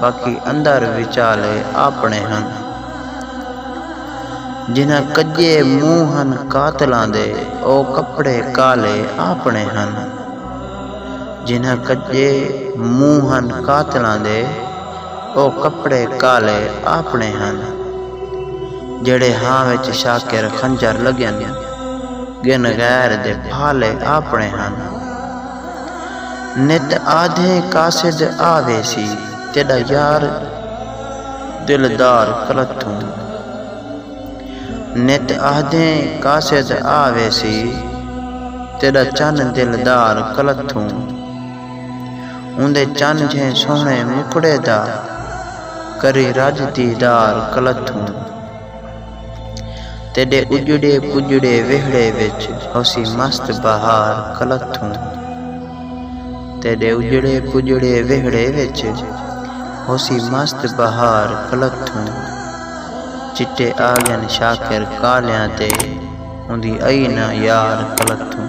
باقی اندر وچالے آپݨے ہن۔ جنہاں کڄے منہ ہن قاتلاں دے او کپڑے کالے آپݨے ہن۔ جنہاں کڄے منہ ہن قاتلاں دے او کپڑے کالے آپݨے ہن۔ جیڑھے ہاں وچ شاکر خنجر لڳن ڳن غیر دے پھالے آپݨے ہن۔ نت آدھیں قاصد آ ویسی تیݙا یار دلدار کلتھوں نت آدھیں قاصد آ ویسی تیݙا چن دلدار کلتھوں اوندے چن جھیں سوہݨے مکھڑے دا کری رڄ دیدار کلتھوں تیݙے اڄڑے پڄڑے ویہڑے وچ ہوسی مست بہار کلتھوں تیݙے اڄڑے پڄڑے ویہڑے وچ ہوسی مست بہار کلتھوں چٹے آڳن شاکر کالیاں تے اوندی ائی ناں یار کلتھوں۔